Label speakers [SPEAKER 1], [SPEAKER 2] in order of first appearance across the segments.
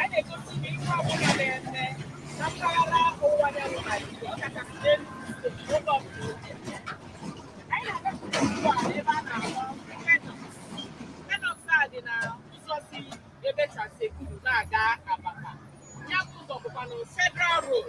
[SPEAKER 1] anyị na-egosi unu ihe ọbụla na-eme na mpaghara ọwụwa anyanwụ Naijiria ọkachasị n'Enugu steeti oge ọbụla oge anyị na-agapụta ugbu a n'ebe a na-akpọ Penox Penox a dị na ụzọ si ebe Transekulu na-aga Abakpa ya bụ ụzọ bụkwa na Federal Road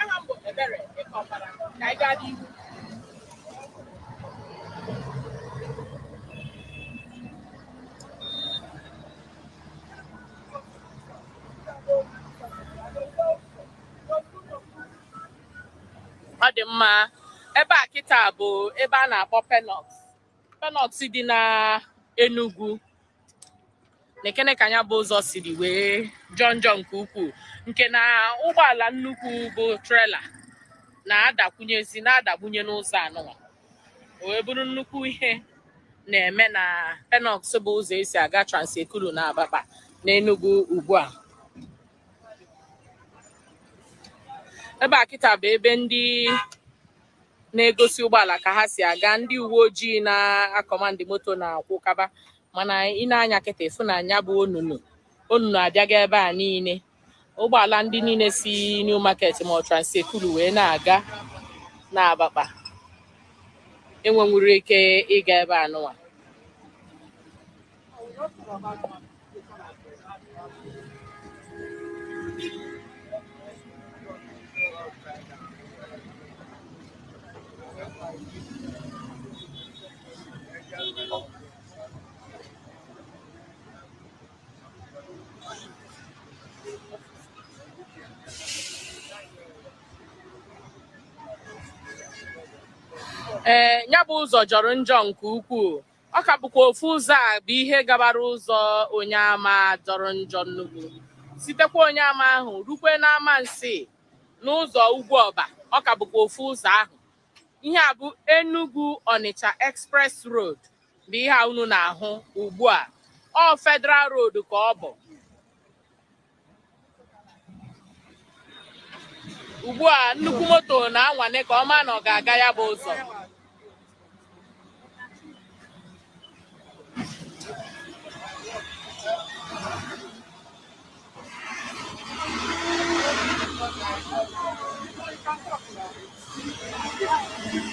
[SPEAKER 1] aha m bụ Ebere Ekeopara ka anyị gaa n'ihu ọ dị mma ebe a kịta bụ ebe a na-akpọ Penox Penox dị na Enugu nekene ka nya bụ ụzọ siri wee jọọ njọ nke ukwuu nke na ụgbọala nnukwu bụ trela na-adakwunyezi na-adagbunye n'ụzọ anụwa o wee bụrụ nnukwu ihe na-eme na Penox bụ ụzọ esi aga Transekulu na Abakpa n'Enugu ugbu a ebe a kịta bụ ebe ndị na-egosi ụgbọala ka ha si aga ndị uwe ojii na-akọmandị moto na-akwụkaba mana i nee anya kịta ị fụ na nya bụ onunu onunu a dịga ebe a niile ụgbọala ndị niile si New Market ma ọ Transekulu wee na-aga na Abakpa enwenwuru ike ịga ebe a nụwa ee eh, ya bụ ụzọ jọrọ njọ nke ukwuu ọ ka bụkwa ofu ụzọ a bụ ihe gabara ụzọ Onyeama jọrọ njọ nnukwu sitekwa Onyeama ahụ rukwe n'Amansea n'ụzọ Ugwuoba ọ ka bụkwa ofu ụzọ ahụ ihe a bụ Enugu Onitsha Express Road bụ ihe a unu na-ahụ ugbu a ọ Federal Road ka ọ bụ ugbu a nnukwu moto na-anwale ka ọ maa na ọ ga-aga ya bụ ụzọ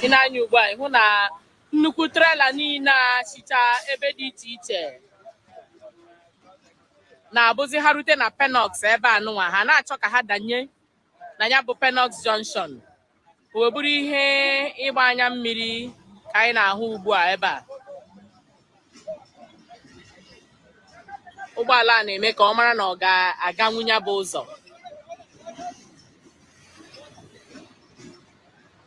[SPEAKER 1] i nee anya ugbu a ị hụ na nnukwu trela niile a sicha ebe dị iche iche na-abụzi ha rute na Penoks ebe anụnwa ha na-achọ ka ha danye na ya bụ Penoks Junction o wee bụrụ ihe ịgba anya mmiri ka anyị na-ahụ ugbu a ebe a ụgbọala a na-eme ka ọ mara na ọ ga-aganwu ya bụ ụzọ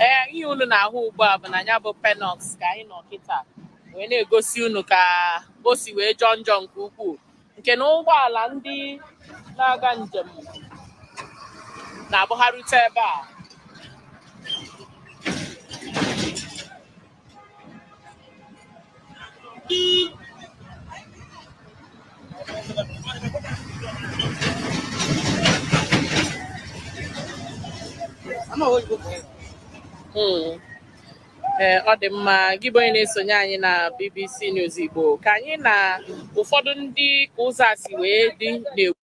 [SPEAKER 1] ee ihe unu na-ahụ ugbu a bụ na ya bụ Penoks ka anyị nọ kịta wee na-egosi unu ka o si wee jọọ njọ nke ukwuu nke na ụgbọala ndị na-aga njem na-abụ ha rute ebe a Hmm. ee ọ dị mma gị bụ onye na-esonye anyị na BBC News Igbo ka anyị na ụfọdụ ndị ka ụzọ a si wee dị na-ekwu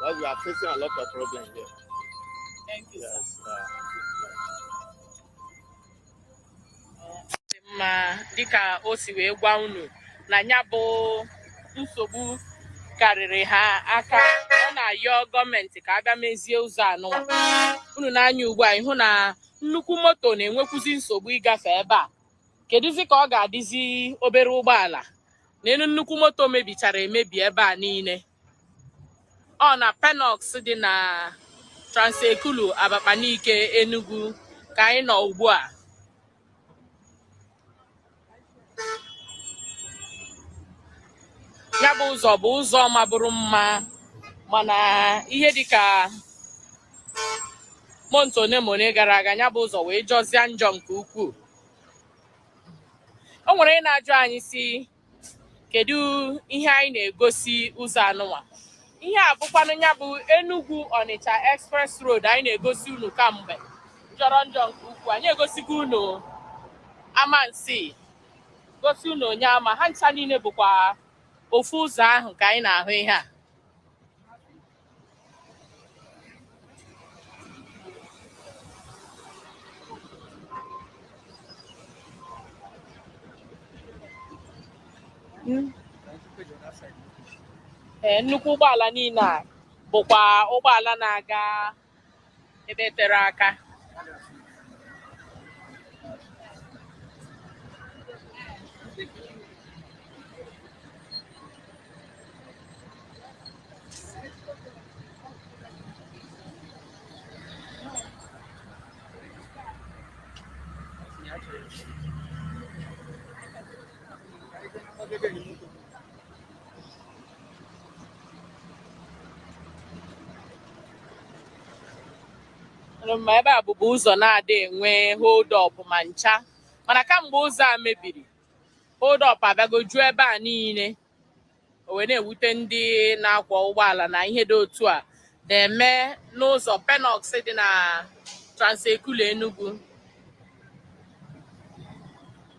[SPEAKER 2] Well, we are facing a lot
[SPEAKER 1] of problems here. Thank you, yes, sir. dị mma dịka o si wee gwa unu na ya bụ nsogbu karịrị ha aka ọ na-ayọ gọọmenti ka a bịa mezie ụzọ a nụ unu nee anya ugbu a ị hụ na nnukwu moto na-enwekwuzi nsogbu ịgafe ebe a kedụzi ka ọ ga-adịzi obere ụgbọala neenụ nnukwu moto mebichara emebi ebe a niile ọ na Penoks dị na Trans Ekulu Abakpa Nike Enugu ka anyị nọ ugbu a ya bụ ụzọ bụ ụzọ mabụrụ mma mana ihe dịka month one ma one gara aga ya bụ ụzọ wee jọzie njọ nke ukwuu o nwere ndị na-ajụ anyị sị kedu ihe anyị na-egosi ụzọ anụnwa ihe a bụkwanụ ya bụ Enugu Ọnịcha Express Road anyị na-egosi unu kamgbe jọrọ njọ nke ukwuu anyị egosigo unu Amansea gosi unu Onyeama ha ncha niile bụkwa ofu ụzọ ahụ ka anyị na-ahụ ihe a ee nnukwu ụgbọala niile a bụkwa ụgbọala na-aga ebe tere aka Thank you. ma ebe a bụbu ụzọ na-adị enwe hold up ma ncha mana kamgbe ụzọ a mebiri hold up abịago juo ebe a niile o wee na-ewute ndị na-akwọ ụgbọala na ihe dị otu a na-eme n'ụzọ Penoks dị na Trans-Ekulu Enugu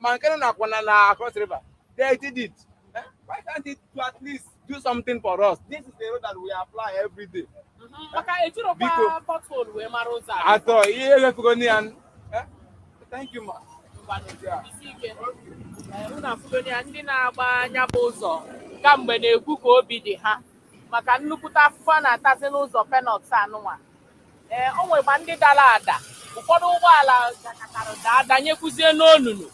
[SPEAKER 3] ma nke na akwa na na Cross River they did it eh, why can't it to at least do something for us this is the road that we ply every day mm-hmm. maka ejirokwa pothole wee mara ụzọ atọ ihe ewefugo na ya eh, thank you
[SPEAKER 1] ma unu afụgo na ya ndị na-agba nya bụ ụzọ kamgbe na-ekwu ka obi dị ha maka nnukwute afụfụ a na-atazi n'ụzọ Penoks anụnwa ee o nwekwa ndị dara ada ụfọdụ ụgbọala dakatara daa danyekwuzie n'onunu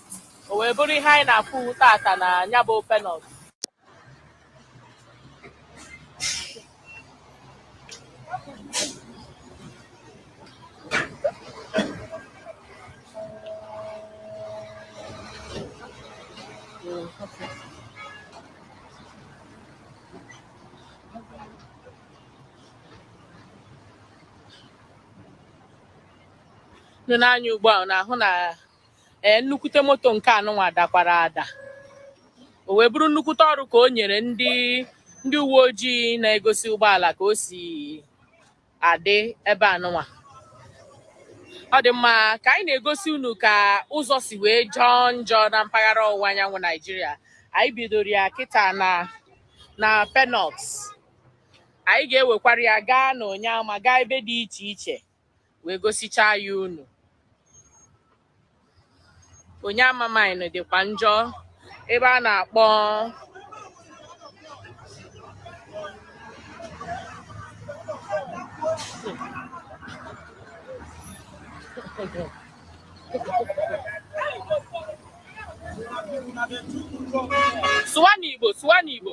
[SPEAKER 1] o wee bụrụ ihe anyị na-afụ tata na ya bụ Penoks nọ n'anya ugbu a na-ahụ na ee nnukwute moto nke anụnwa dakwara ada o wee bụrụ nnukwute ọrụ ka o nyere ndị ndị uwe ojii na-egosi ụgbọala ka o si adị ebe anụnwa ọ dị mma ka anyị na-egosi unu ka ụzọ si wee jọọ njọ na mpaghara ọwụwa anyanwụ naijiria anyị bidoro ya kịta na na Penoks anyị ga-ewekwara ya gaa na Onyeama gaa ebe dị iche iche wee gosichaa ya unu Onyeama mine dịkwa njọ ebe a na-akpọ sụwa n'igbo sụwa n'igbo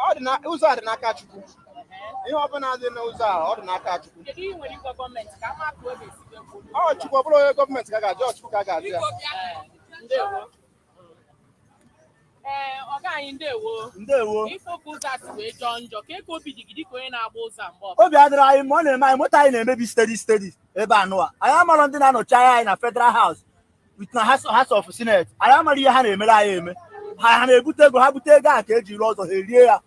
[SPEAKER 3] ọ dị na ụzọ a dị n'aka Chukwu ihe ọbụla dị n'ụzọ a ọ dị n'aka Chukwu ọ Chukwu ọ bụrọ onye gọọmenti ka ga-ajụ ọ Chukwu ka ga-ajụ ya
[SPEAKER 1] ee ọga anyị ndewo ndewo ị fụ ka ụzọ a si wee jọọ njọ kee ka obi dị gị dịka onye na-agba ụzọ a mgbe ọbụla obi adịrọ anyị mma ọ na-eme
[SPEAKER 4] anyị moto anyị na-emebi steady steady ebe anụwa anyị amarọ ndị na-anọchi anya anyị na federal house with na House- house of senate anyị amarọ ihe ha na-emere anyị eme ha ha na-ebute ego ha bute ego a ka-eji rụọ ụzọ ha erie ya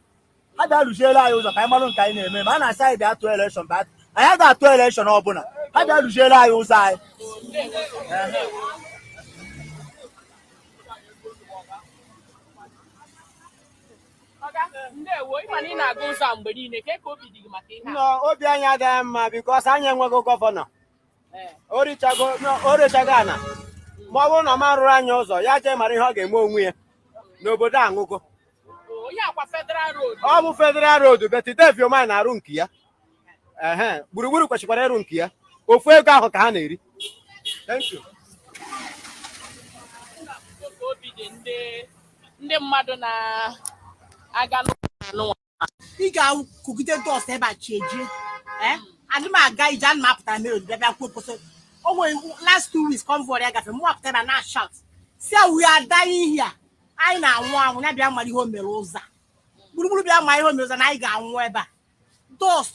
[SPEAKER 4] ha bịa rụziere anyị ụzọ ka anyị marụ nke anyị na-eme ma a na-asị anyị bịa tụọ elekshọn anyị aga atụ elekshọn ọbụla ha bịa rụziere anyị ụzọ anyị
[SPEAKER 1] obi anyị adịghị mma
[SPEAKER 3] bikos anyị enweghị gọvanọ o rechago ana ma ọ bụrụ na ọ ma rụrụ anyị ụzọ ya jee mara ihe ọ ga-eme onwe ya n'obodo enugu Onye akwa Federal Road. ọ bụ federal road bet dave umahi na-arụ nke ya ehe gburugburu kwesịkwara ịrụ nke ya ofu ego ahụ ka ha na-eri Thank you.
[SPEAKER 1] Obi dị ndị ndị mmadụ na-aga n'ụzọ anụnwa.
[SPEAKER 5] ị ga-akụgide dọst ebe a chi ejie eh? adị m aga ije ana m apụta mere bịa bịa kwuo kwụsị o nwere last two weeks convoy ya gafere mụ apụta ebe a na-shout sị we are dying here anyị na-anwụ anwụ ya bịa mara ihe o mere ụzọ a. gburugburu bịa mara ihe o mere ụzọ a na anyị ga-anwụ ebe a dọst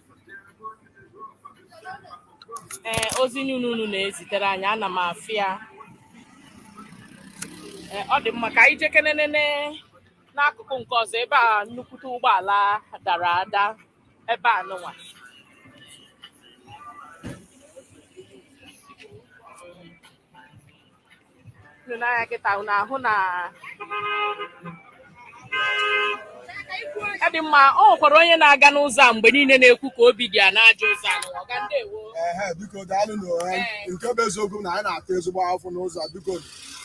[SPEAKER 1] ee ozi niile unu na-ezitere anyị ana m afụ ya ee ọ dị mma ka anyị jekenenene n'akụkụ nke ọzọ ebe a nnukwute ụgbọala dara ada ebe a nụnwa n'anya kịta unu ahụ na ọ dị mma ọ nwekwara onye na-aga n'ụzọ a mgbe niile na-ekwu ka obi dị ya n'ajọ ụzọ a nụnwa.
[SPEAKER 6] ọga ndewo ehe biko daalụ nke bụ eziokwu na anyị na-ata ezigbo afụfụ n'ụzọ a biko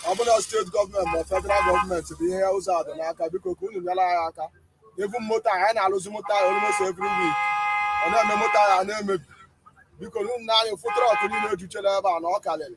[SPEAKER 6] ọ bụla steeti gọọmenti ma federal gọọmenti bụ ndị ụzọ a dị n'aka biko ka unu nyere anyị aka even moto anyị na-alụzi moto anyị almost every week ọ na-eme moto anyị a na-emebi biko unu na anyị fụ trọk niile ejuchela ebe a na ọ karịrị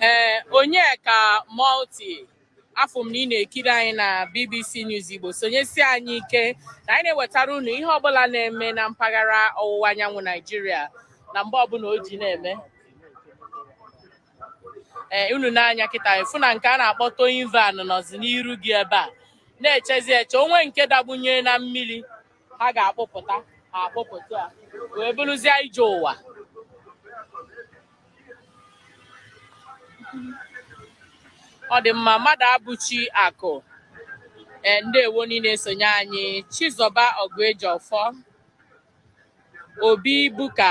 [SPEAKER 1] ee onyeka multi afụ m na ị na-ekiri anyị na bbc news igbo sonyesi anyị ike na anyị na-ewetara unu ihe ọbụla na-eme na mpaghara ọwụwa anyanwụ naijiria na mgbe ọbụla o ji na-eme ee unu n'anya kịta afụ na nke a na-akpọ towing van nọzi n'iru gị ebe a na-echezi eche o nwe nke dagbunye na mmiri ha ga-akpụpụta ha akpụpụta ya wee bụrụzie ije ụwa ọ dị mma mmadụabụchi akụ ee ndewo na ị na-esonye anyị chizọba oguejiofor Obi Ebuka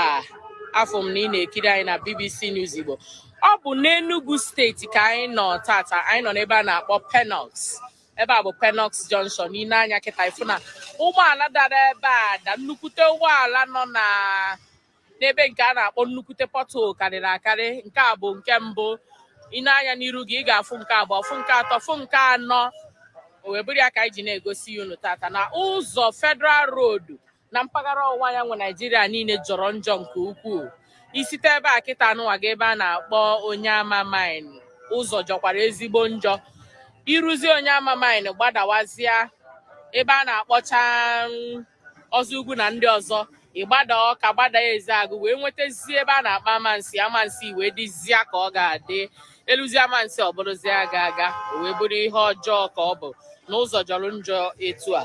[SPEAKER 1] afụ m na ị na-ekiri anyị na BBC News Igbo ọ bụ n'Enugu steeti ka anyị nọ tata anyị nọ n'ebe a na-akpọ Penox ebe a bụ Penox Junction na ị lee anya kịta ị fụ na ụgbọala dara ebe a da nnukwute ụgbọala nọ na n'ebe nke a na-akpọ nnukwute pothole karịrị akarị nke a bụ nke mbụ ị lee anya n'iru gị ị ga-afụ nke abụọ fụ nke atọ fụ nke anọ o wee bụrụ ya ka anyị ji na-egosi ya unu tata na ụzọ Federal Road na mpaghara ọwụwa anyanwụ naijiria niile jọrọ njọ nke ukwuu i site ebe a kịta anụwa gaa ebe a na-akpọ Onyeama Mine ụzọ jọkwara ezigbo njọ i ruzi Onyeama Mine gbadawazịa ebe a na-akpọcha mm, ọzọ ugwu na ndị ọzọ ị gbada Ọka gbada Ezeagụ wee nwetazie ebe a na-akpọ Amansi Amansi wee dịzia ka ọ ga-adị e luzi Amansi ọ bụrụzie aga aga o wee bụrụ ihe ọjọọ ka ọ bụ na ụzọ jọrọ njọ etu a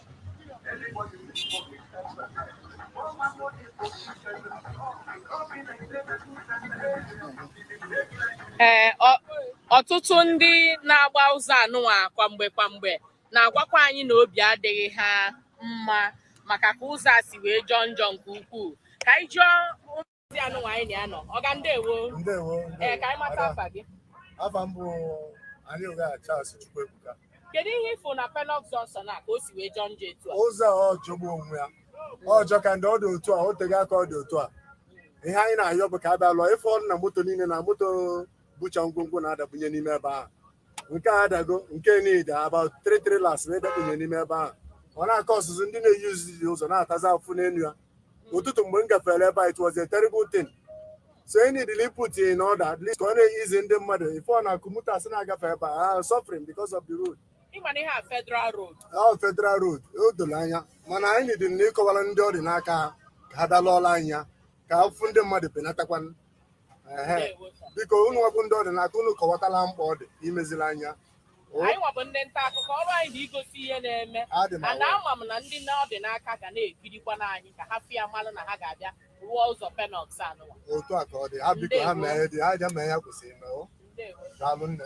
[SPEAKER 1] ee ọtụtụ ndị na-agba ụzọ anụnwa kwa mgbe kwa mgbe na-agwakwa anyị na obi adịghị ha mma maka ka ụzọ a si wee jọọ njọ nke ukwuu ka anyị jụọ Ndị anụnwa anyị na ya nọ. Ọga ndewo. Ndewo. Ee, ka anyị mata afa gị. Afa m
[SPEAKER 6] bụ Anioga Charles Chukwuebuka. Kedu ihe ị
[SPEAKER 1] fụ na Penọk Junction a ka o si wee jọọ njọ etu a? Ụzọ a ọ jọgbu
[SPEAKER 6] onwe ya. Ọ jọka njọ ọ dị otu a, o teghị aka ọ dị otu a. Ihe anyị na-ayọ bụ ka a bịa lụọ ife ọrụ na moto niile na moto bucha ngwongwo na-adakpunye n'ime ebe ahụ. Nke a adago nke niile about three trailers na-adakpunye n'ime ebe ahụ. Ọ na-akọ ọsụsụ ndị na-eyuzi ụzọ na-atazi afụfụ n'elu ya. ụtụtụ mgbe m gafere ebe a it was a terrible thing so e needed ị put in order at least ka ọ na-eyizi ndị mmadụ ife ọ na-akụ motorists na-agafe ebe a are suffering because of the road ị ma na ihe a
[SPEAKER 1] federal road ahụ federal
[SPEAKER 6] road o doro anya mana anyị needịrị na ịkọwara ndị ọ dị n'aka ha ka ha bịa lụọla anyị ya ka afụfụ ndị mmadụ benatakwanụ ehe Ndewo, sir. biko unu nwa bụ ndị ọ dị n'aka unu kọwatala mkpa ọ dị imezila anyị ya anyị nwa
[SPEAKER 1] bụ ndị nta akụkọ ọrụ anyị na igosi ihe na-eme mana ama m na ndị na ọ dị n'aka ga na-ekirikwanụ anyị ka ha fụ ya malụ na ha ga-abịa rụọ ụzọ Penox anụwa otu a ka ọ dị ha
[SPEAKER 6] biko ha mee dị ha ja mee ihe ha kwesịrị ime o daalụ nne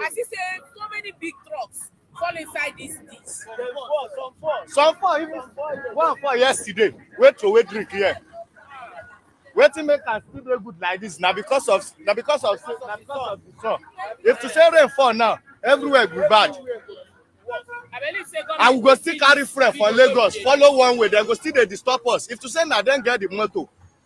[SPEAKER 1] I see say
[SPEAKER 2] so many big trucks fall inside this ditch. Some fall, some fall. Some fall, even one fall yesterday. Wait to wait drink here. Wetin make am still dey good like this na because of na because of na because of the sun. If to say rain fall now, everywhere go bad. I will go still carry friend for Lagos, follow one way, dem go still dey disturb us. If to say na dem get the motor,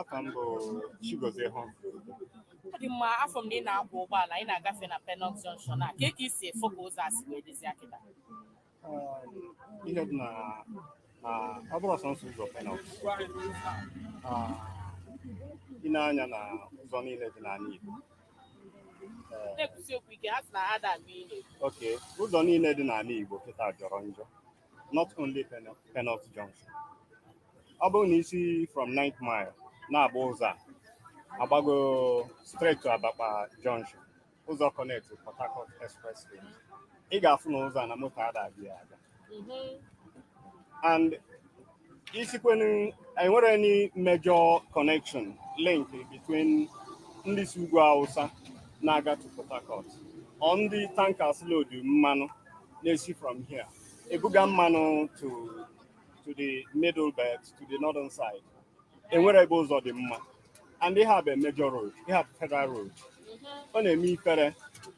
[SPEAKER 7] afa m bụ Chigozie hụ ọ
[SPEAKER 1] dị mma afụ m na ị na-akwọ ụgbọala ị na-agafe na Penọk Junction a kee ka i si afụ ka ụzọ a si wee dịzia kịta ihe
[SPEAKER 7] dị na na ọ bụrọ sọnsọ ụzọ Penọk i nee anya na ụzọ niile dị n'ala Igbo ee, na-ekwusi okwu ike ha sị na ha ada anụ ihe okay ụzọ niile dị n'ala Igbo kịta jọrọ njọ not only Penoks Junction. Ọ bụrụ na i si from 9th mile na-agba ụzọ a agbago straight to Abakpa Junction ụzọ connect to Port Harcourt Expressway ị ga-afụ na ụzọ a na moto ada abịa aga and isikwanụ enwere any major connection link between ndị si ugwu Hausa na-aga to Port Harcourt or ndị tankers load mmanụ na-esi from here ebuga mmanụ to to the middle belt to the northern side enwero ebe ụzọ dị mma and ihe a bụ major road ihe a bụ federal road ọ na-eme ifere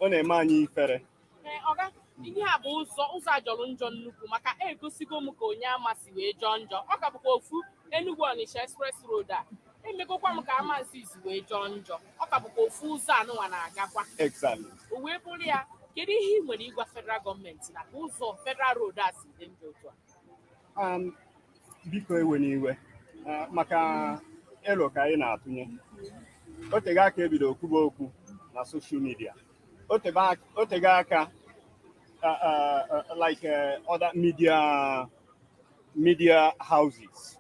[SPEAKER 7] ọ na-eme anyị ifere Ee,
[SPEAKER 1] oga ihe a bụ ụzọ ụzọ a jọrọ njọ nnukwu maka egosigo m ka Onyeama si wee jọọ njọ ọ ka bụkwa ofu Enugu Onitsha Express Road a emegokwa m ka Amansea si wee jọọ njọ ọ ka bụkwa ofu ụzọ anụnwa na-agakwa Exactly. o wee
[SPEAKER 7] bụrụ
[SPEAKER 1] ya kedu ihe ị nwere ịgwa federal gọọmenti na ka ụzọ federal road a si dị njọ otu a Um,
[SPEAKER 7] biko ewena iwe uh, maka elo ka anyị na-atụnye o tego aka ebido kwuba okwu na soshal midia o tebe aka- o tego aka uh, uh, uh, like uh, other media media houses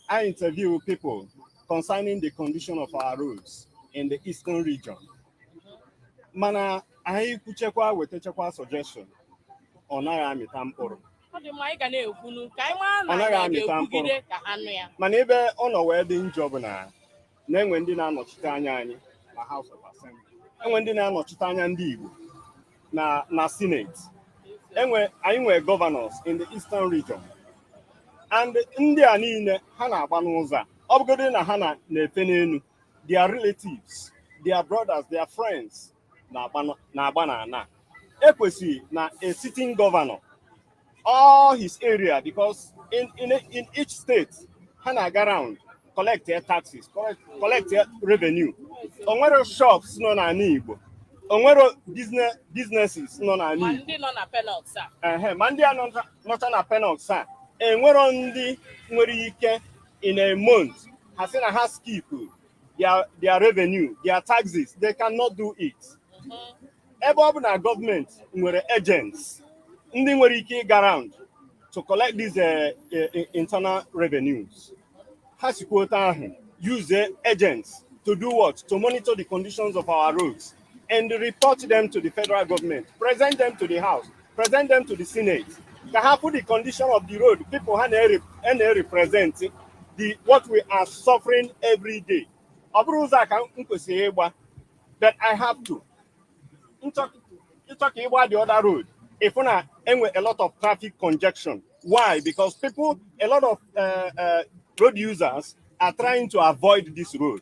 [SPEAKER 7] na-interview people concerning the condition of our roads in the eastern region mana anyị kwuchekwa wetachakwa suggestion ọ naghị amịta mkpụrụ ọ dị mma anyị ga
[SPEAKER 1] na-ekwunu ka anyị mara na Ọ naghị anyị amịta ga-ekwugide ka ha nụ ya mana ebe ọ nọ wee
[SPEAKER 7] dị njọ bụ na na enwe ndị na-anọchite anya anyị na House of Assembly enwe ndị na-anọchite anya ndị Igbo na na Senate ee anyị nwere governors in the Eastern region and ndị a niile ha na-agba n'ụzọ a ọ bụgodị na ha na-efe n'enu their relatives their brothers their friends na-agba n'ana ekwesịrị na a sitting governor all his area because in, in, in each state ha na-aga round collect their taxes collect their revenue onwere shops nọ n'ana Igbo onwere business businesses nọ n'ala Igbo
[SPEAKER 1] ma ndị nọ na Penoks a ma ndị
[SPEAKER 7] a nọcha na Penoks a enwero ndị nwere ike in a month ha sị na ha skip their, their revenue, their taxes. They cannot do it. Ebe ọ bụ na gọọmenti nwere agents ndị nwere ike ịga round to collect these uh, uh, internal revenues. Ha sikwa otu ahụ use agents to do what? To monitor the conditions of our roads. and report them to the federal government, present them to the House, present them to the Senate. Ka ha put the condition of the road, people ha na-represent the what we are suffering every day. Ọ bụrụ ụzọ a ka m kwesịrị ịgba, but I have to. Ịchọ ka ịgba the other road, ịfụ na enwe a lot of traffic congestion. Why? Because people, a lot of uh, uh, road users are trying to avoid this road.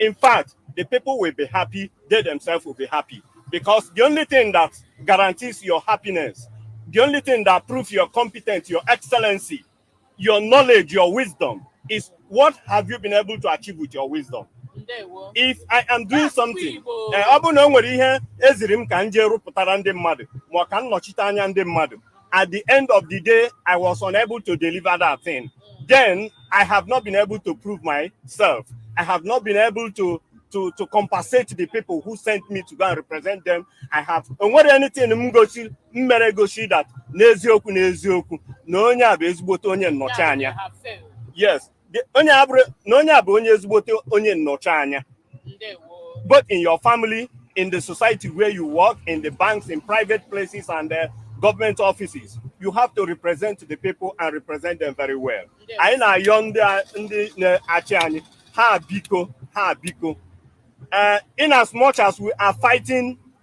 [SPEAKER 7] In fact, the people will be happy, they themselves will be happy. Because the only thing that guarantees your happiness, the only thing that proves your competence, your excellency, your knowledge, your wisdom is what have you been able to achieve with your wisdom? if i am doing something eh, ọ bụrụ na o nwere ihe e ziri m ka m jee rụpụtara ndị mmadụ ma ọ ka m nọchite anya ndị mmadụ at the end of the day, I was unable to deliver that thing. Then I have not been able to prove myself. I have not been able to to, to compensate the people who sent me to go and represent them. I have o nwere anything m gosi m mere gosi that n'eziokwu n'eziokwu na onye a bụ ezigbote onye nnọchi anya. Yes, The- onye a bụrụ na onye a bụ onye ezigbote onye nnọchi anya both in your family in the society where you work in the banks in private places and the government offices you have to represent the people and represent them very well anyị na-ayọ ndị a- ndị na-achị anyị ha biko ha biko uh, in as much as we are fighting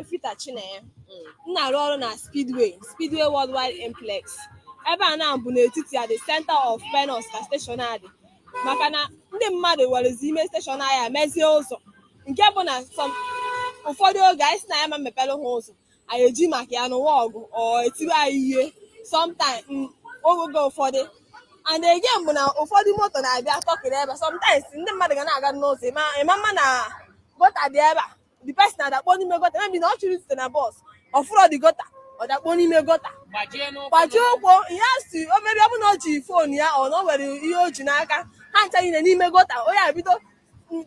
[SPEAKER 8] Efita Chinenye m na-arụ ọrụ na Speedway Speedway Worldwide Implex ebe a na-abụ n'etiti ya the center of Penos ka steshọn a dị maka na ndị mmadụ werezi ime steshọn anyị mezie ụzọ nke bụ na ụfọdụ oge anyị sị na anyị ama emepere ha ụzọ anyị eji maka ya nụwa ọgụ or e tiwe anyị ihe sometimes mm, oge ụfọdụ and again bụ na ụfọdụ moto na-abịa tọkịrị ebe a sometimes ndị mmadụ ga na-aga n'ụzọ ị ma ma na gọta dị ebe a the person adakpọ n'ime gọta maybe na ọ chọrọ izite na bọs ọ fụrọ the gọta ọ dakpọ n'ime gọta gbajie ụkwụ ihe si or maybe ọ bụ na o ji fon ya or na o nwere ihe o ji n'aka ha ncha niile n'ime gọta onye a ebido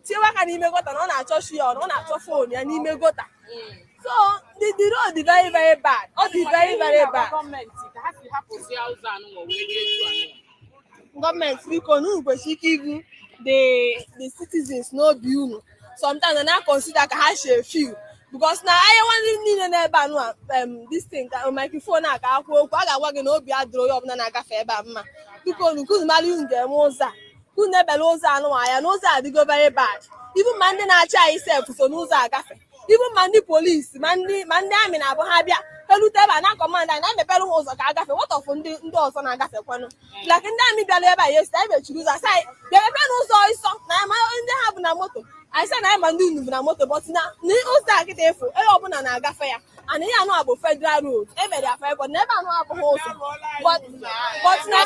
[SPEAKER 8] tiewa aka n'ime gọta na ọ na-achọ shoe ya or na ọ na-achọ fon ya n'ime gọta so the the road dị very very bad ọ dị very very bad gọọmenti ka ha si hapụzi ụzọ anụnwa wee rie etu anụnwa gọọmenti biko unu kwesịrị ike ibu the the citizens n'obi unu sometimes na consider ka ha si feel because na anyị nwa niile nọ ebe a nụa this thing ka microphone a ka a kwuo okwu a ga-agwa gị na obi adịrọ onye ọbụla na-agafe ebe a mma biko unu ka unu mara ihe unu ga-eme ụzọ a ka unu lebara ụzọ anụnwa anya na ụzọ adịgo very bad even ma ndị na-achị anyị sef so n'ụzọ a agafe even ma ndị polisi ma ndị ma ndị amị na-abụ ha bịa elute ebe a na-akọmand anyị na-emepere ha ụzọ ka ha gafe what of ndị ndị ọzọ na-agafekwanụ like ndị amị bịara ebe a yesterday anyị mechiri ụzọ a sị anyị bịa mepere ụzọ ha sị na anyị ma ndị ha bu na moto anyị sị na anyị ma ndị unu bu na moto but na na ụzọ a kịta efu onye ọbụla na-agafe ya and ihe anụ a bụ federal road e mere ya fibọd na ebe anụ abụghị ụzọ But- but na-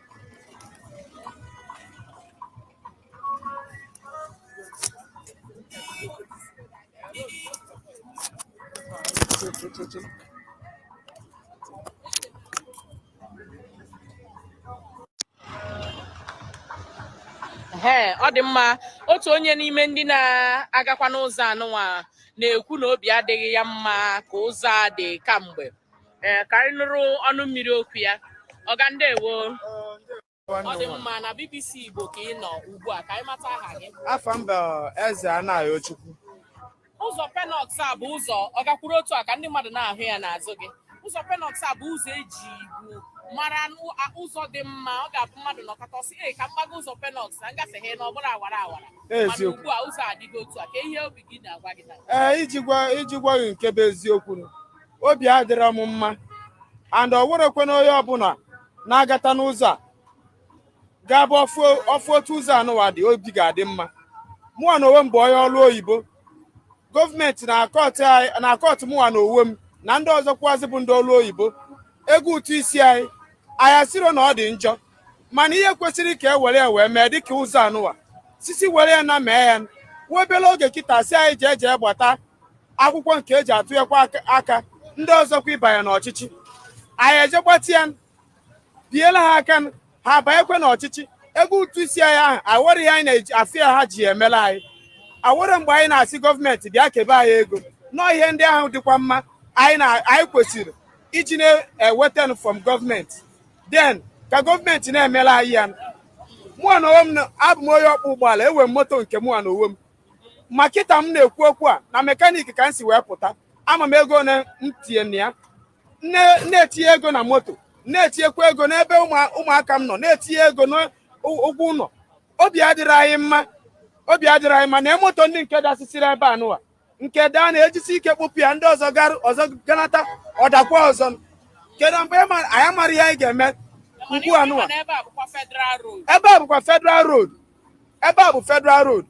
[SPEAKER 1] ee ọ dị mma otu onye n'ime ndị na-agakwa n'ụzọ anụnwa na-ekwu na obi adịghị ya mma ka ụzọ a dị kamgbe ee ka anyị nụrụ ọnụ mmiri okwu ya ọga ndewo ọ dị mma na BBC Igbo ka ị nọ ugbu a ka anyị mata aha gị afa m
[SPEAKER 3] bụ eze anayochukwu ụzọ
[SPEAKER 1] penoks a bụ ụzọ ọ gakwuru otu a ka ndị mmadụ na-ahụ ya n'azụ gị ụzọ penoks a bụ ụzọ ejibu mara ụzọ dị mma ọ ga-abụ mmadụ nọkọta ọ sị ee ka m gbago ụzọ penoks na m gafe ha na ọ bụrụ awara awara mana ugbu a ụzọ adịgo otu a kee ihe obi gị na-agwa gị ee iji gwa
[SPEAKER 3] gị nke bụ eziokwu obi adịrọ m mma and o nwerekwanụ onye ọbụla na-agata n'ụzọ a ga-abụ ọ fụ otu ụzọ anụwa dị obi ga-adị mma mụwa na onwe m bụ onye ọrụ oyibo gọọmenti na-akọtụ mụwa na onwe m na ndị ọzọkwazị bụ ndị ọrụ oyibo ego ụtụ isi anyị anyị asịrọ na ọ dị njọ mana ihe kwesịrị ka e were ya wee mee dịka ụzọ anụwa sisi were ya na mee ya nwa obere oge kịta sị anyị jee jee gbata akwụkwọ nke eji atụnyekwa aka ndị ọzọkwa ịbanye n'ọchịchị anyị eje gbata ya biela ha aka ha abanyekwa n'ọchịchị ego ụtụ isi anyị ahụ awere ihe anyị na-eji afụ ya ha ji emela anyị awere mgbe anyị na-asị gọọmenti bịa kebe anyị ego no ihe ndị ahụ dịkwa mma anyị kwesịrị iji na-eweta from gọọmenti then ka gọọmenti na-emela anyị ya mụwa na onwe m abụ m onye ọkpụ ụgbọala enwe m moto nke mụwa na onwe m ma kịta m na-ekwu okwu a na mekanik ka m si wee pụta ama m ego na m tinye na ya na-etinye ego na moto na-etinyekwa ego n'ebe ụmụaka m nọ na-etinye ego n'ụgwọ ụlọ obi adịrị anyị mma na moto ndị nke dasịsịrị ebe anụwa nke daa na-ejisi ike kpụpụ ya ndị ọzọ ganata ọ dakwa ọzọ kedu mgbe anyị amara ihe anyị ga-eme ugbu anụwa ebe a bụkwa federal road ebe a bụ federal road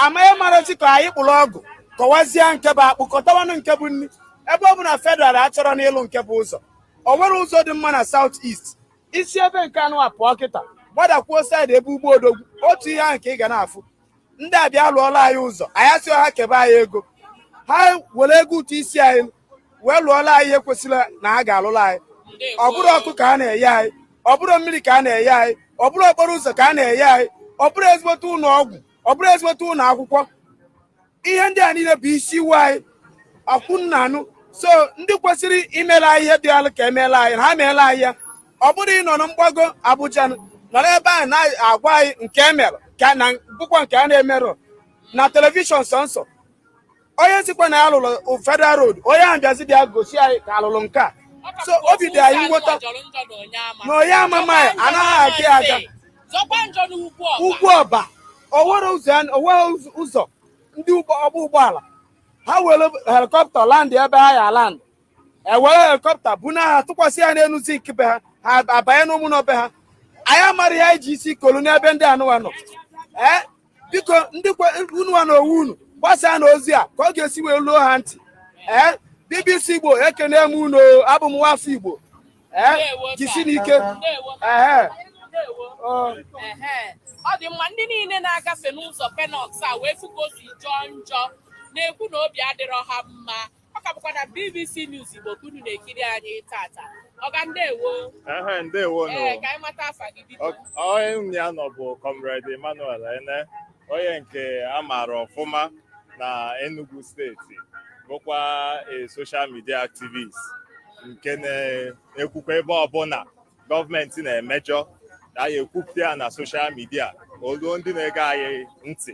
[SPEAKER 3] amaghị marachi ka anyị kpụrụ ọgụ kọwazie nke bụ akpụ kọtawanụ nke bụ nri ebe ọ bụ na federal achọrọnụ ịlụ nke bụ ụzọ o nwere ụzọ dị mma na south east i si ebe nke anụwa pụọ kịta gbadakwuo side ebe ugbo odogwu otu ihe ahụ ka ị ga na-afụ ndị a bịa lụọla anyị ụzọ anyị asịrọ ha kebe anyị ego ha were ego ụtụ isi anyị wee lụọla anyị ihe kwesịrị na a ga-alụla anyị ọ bụrụ ọkụ ka a na-enye anyị ọ bụrụ mmiri ka a na-enye anyị ọ bụrụ okporo ụzọ ka a na-enye anyị ọ bụrụ ezigbote ụlọ ọgwụ ọ bụrụ ezigbote ụlọ akwụkwọ ihe ndị a niile bụ isi iwe anyị akwụ nna anụ so ndị kwesịrị imela anyị ihe dị alụ ka emeela anyị ha meela anyị ya ọ bụrọ ịnọ na mgbago Abuja nọrọ ebe ahụ na-agwa anyị nke emere ka na bụkwa nke a na-emerọ na telivishọn sọnsọ onye sịkwa na ya lụrụ federal road onye ahụ bịazi bịa gosi anyị ka a lụrụ nke a so obi dị anyị mwute na onye amama ya anaghị aga ya aga Ugwuọba o nwere ụzọ ndị ọgba ụgbọala ha were helikọpta land ebe ha ya land e were helikọpta buna ha tụkwasị ya n'elu zinc be ha ha abanye n'ime ụnọ be ha anyị amarọ ihe anyị ji isi kolu n'ebe ndị anụwa nọ ee biko ndị unuwa na onwe unu gbasaanụ ozi a ka ọ ga-esi wee luo ha ntị ee BBC Igbo ekene m unu abụ m nwafọ Igbo ee jisinụ ike
[SPEAKER 1] ee ọ dị mma ndị niile na-agafe n'ụzọ Penoks a wee fụ ka o si jọọ njọ na-ekwu na obi adịrọ ha mma ọ ka bụkwa na BBC News Igbo ka unu na-ekiri anyị tata ọga ndewo ehe ndewo nụ ee ka
[SPEAKER 9] anyị mata afa gị
[SPEAKER 1] biko onye m ya nọ
[SPEAKER 9] bụ Comrade Emmanuel Ene onye nke a maara ọfụma na Enugu steeti bụkwa a social media activist nke na-ekwukwa ebe ọbụla gọọmenti na-emejọ anyị ekwupụta ya na social media o luo ndị na-ege anyị ntị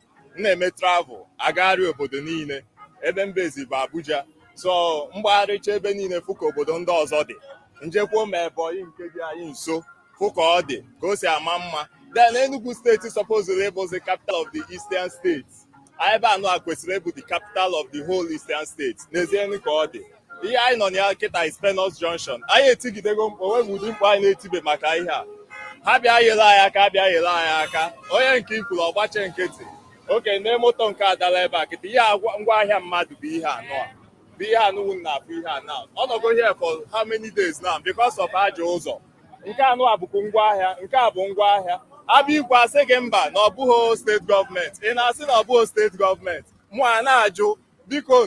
[SPEAKER 9] m na-eme travel agagharị obodo niile ebe m bizi bụ Abuja so m gbagharịcha ebe niile fụ ka obodo ndị ọzọ dị m jekwuo ma Ebonyi nke dị anyị nso fụ ka ọ dị ka o si ama mma then Enugu steeti supposedly bụ the capital of the Eastern States ebe anụwa kwesịrị ịbụ the capital of the whole Eastern States n'ezie ka ọ dị ihe anyị nọ na ya kịta is Penoks Junction anyị etigidego mkpu o nweghị ụdị mkpu anyị na-etibe maka ihe a ha bịa yere anyị aka bịa yere anyị aka onye nke ị kwuru ọ gbachie nkịtị okay nee moto nke a dala ebe a kịta ihe ngwa ahịa mmadụ bụ ihe anụwa bụ ihe anụwa ị na-afụ here now ọ nọgo here for how many days now because of ajọ ụzọ nke anụwa bụkwa ngwa ahịa nke a bụ ngwa ahịa a bịa ikwu a sị gị mba na ọ bụghị steeti gọọmenti ị na-asị na ọ bụghị steeti gọọmenti mụ ana-ajụ biko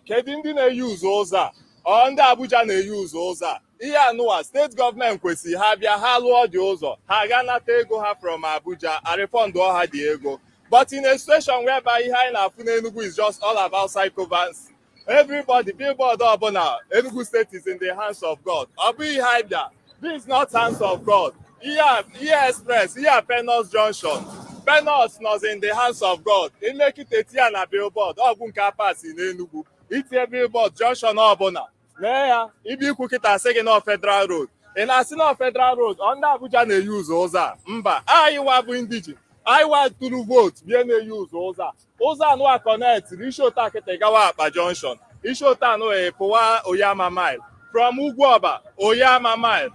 [SPEAKER 9] kedu ndị na-euse ụzọ a ọ ndị Abuja na-euse ụzọ a ihe anụwa steeti gọọmenti kwesịrị ha bịa ha lụọ the ụzọ ha aga nata ego ha from Abuja a refund ha the ego but in a situation whereby ihe anyị na-afụ n'Enugu is just all about sycophancy everybody billboard ọbụla Enugu State is in the hands of God ọ bụghị ihe anyị bịa This not hands of God. Here, here express, here Penoks Junction. Penoks nọzi in the hands of God. I mee kịta tie ya na billboard, ọgwụ nke apasi n'Enugwu. I tie billboard junction ọbụla. Nee ya, ị bịa ikwu kịta a sị gị na ọ Federal Road. Ị na-asị na ọ Federal Road, ọ ndị Abuja na-euse ụzọ a. Mba, anyị wa bụ indigene. Anyị wa tụrụ vootu bịa na-euse ụzọ a. ụzọ anụwa connect i si otu a kịta gawa Abakpa junction i si otu anụ pụwa Onyeama mine from Ugwuọba Onyeama mine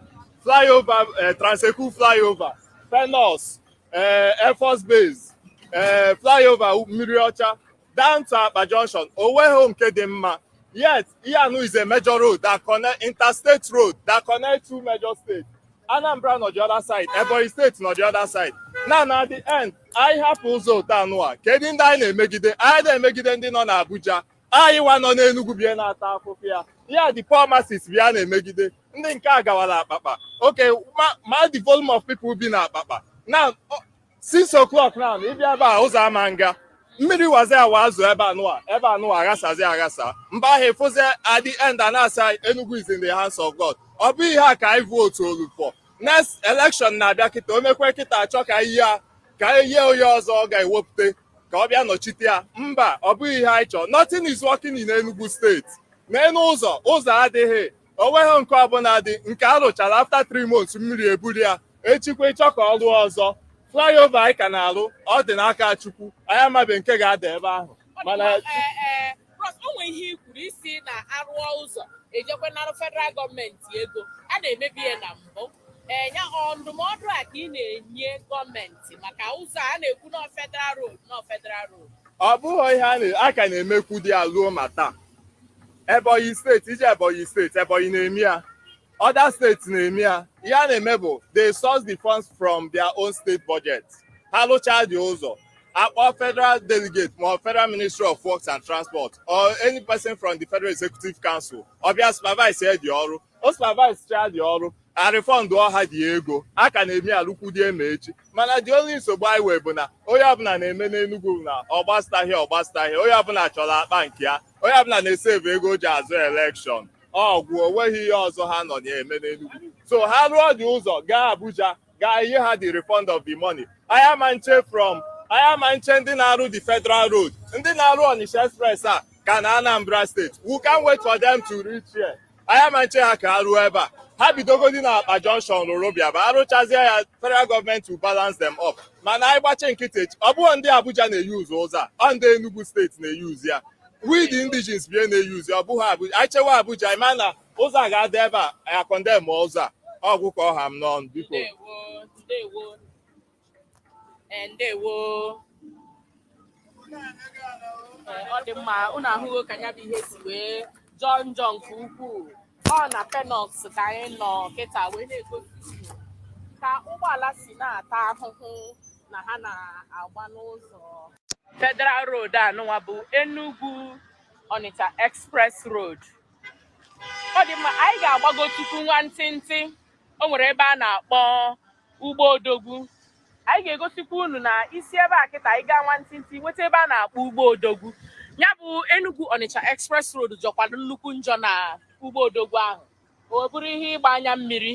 [SPEAKER 9] flyover eh, Trans-Ekulu flyover Penoks eh, air force base eh, flyover mmiri ọcha down to Abakpa junction onweghị nke dị mma yet ihe anụ is a major road that connect interstate road that connect two major states Anambra nọ the other side Ebonyi steeti nọ the other side na na the end anyị hapụ ụzọ otu anụwa kedu ndị anyị na-emegide anyị na-emegide ndị nọ n'Abuja anyị wa nọ n'Enugu bie na-ata afụfụ ya ya the poor masses bịa na-emegide ndị nke a gawara Abakpa okay ma the volume of people bi na Abakpa na 6 o'clock now ị bịa ebe a ụzọ ama nga mmiri wazi awa azụ ebe anụwa ebe anụwa aghasazi aghasa mgbe ahụ ịfụzi at the end a na-asị Enugu is in the hands of God ọ bụ ihe a ka anyị vootulu for next election na-abịa kịta o mekwe kịta achọ ka ihe a ka ihe onye ọzọ ọ ga-ewepụta ka ọ bịa nọchite ya mba ọ bụghị ihe anyị chọọ nothing is working in Enugu steeti n'elu ụzọ ụzọ adịghị o nweghị nke ọbụladị nke a rụchara after three months mmiri eburu ya echikwa ịchọ ka ọ rụọ ọzọ flyover anyị ka na-arụ ọ dị n'aka Chukwu anyị amabe nke ga-ada ebe ahụ mana eh, eh,
[SPEAKER 1] o nwere ihe i kwuru ị sị na a rụọ ụzọ ejekwa narụ federal gọọmenti ego a na-emebu ya na mbụ enya eh, ndụmọdụ a ka ị na-enye gọọmenti maka ụzọ a na-ekwu na federal road na federal road ọ bụghị
[SPEAKER 9] ihe a ka na-emekwudị ya luo ma taa Ebonyi steeti i jee Ebonyi steeti Ebonyi na-eme ya other states na-eme ya ihe a na-eme bụ they source the funds from their own state budget ha lụchaa the ụzọ a kpọọ federal delegate ma federal ministry of works and transport or any person from the federal executive council ọ bịa supervise ya the ọrụ o supervise chaa the ọrụ a refundụọ ha the ego a ka na-eme ya lukwudị ma echi mana the only nsogbu anyị nwee bụ na onye ọbụla na-eme n'Enugu na ọgbastahịa ọgbastahịa onye ọbụla chọrọ akpa nke ya onye ọbụla na-esave ego o ji azụ elekshọn ọ gwụ onweghị ihe ọzọ ha nọ na-eme n'Enugu so ha rụọ the ụzọ gaa Abuja gaa ihe ha the refund of the money anyị ama nche from anyị ama nche ndị na-arụ the federal road ndị na-arụ Onitsha express a ka nọ Anambra steeti we can't wait for them to reach here anyị ama nche ha ka ha ruo ebe a ha bidogodi na akpa junction rụrụ bịaba arụchazie ya federal gọọmenti will balance them up mana anyị gbachi nkịtị ọ bụghị ndị abuja na-eyuzu ụzọ a ọ ndị enugu steeti na-eyuzu ya we the indigenes bie na-eyuzu ọ bụghị abuja anyị chewa abuja ị ma na ụzọ a ga-adị ebe a akọndem ụzọ a ọ gwụ ka ọ ha m n'ọnụ biko
[SPEAKER 1] Eh, ndewo Eh, ọ dị mma unu ahụgo ka ya bụ ihe si wee jọọ njọ nke ukwuu ọ na penoks ka anyị nọ kịta wee na-egosi unu ka ụgbọala si na-ata ahụhụ na ha na-agba n'ụzọ federal road anụnwa bụ Enugu Onitsha Express Road ọ dị mma anyị ga-agbago tupu nwantịntị o nwere ebe a na-akpọ ugbo odogwu anyị ga-egosikwa unu na i si ebe a kịta anyị gaa nwantịntị nweta ebe a na-akpọ ugbo odogwu ya bụ Enugu Onitsha Express Road jọkwara nnukwu njọ na ugbo odogwu ahụ ọ bụrụ ihe ịgba anya mmiri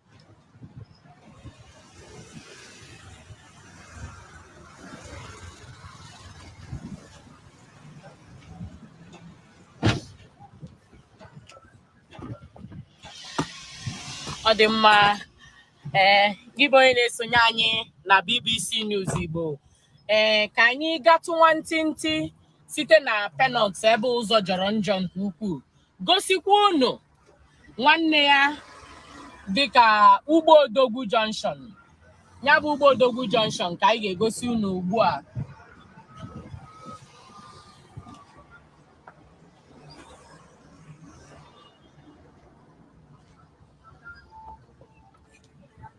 [SPEAKER 1] ọ dị mma ee gị bụ onye na-esonye anyị na BBC News Igbo ee ka anyị gatụ nwantịntị site na penoks ebe ụzọ jọrọ njọ nke ukwuu gosikwa unu nwanne ya dịka ugbo odogwu junction ya bụ ugbo odogwu junction ka anyị ga-egosi unu ugbu a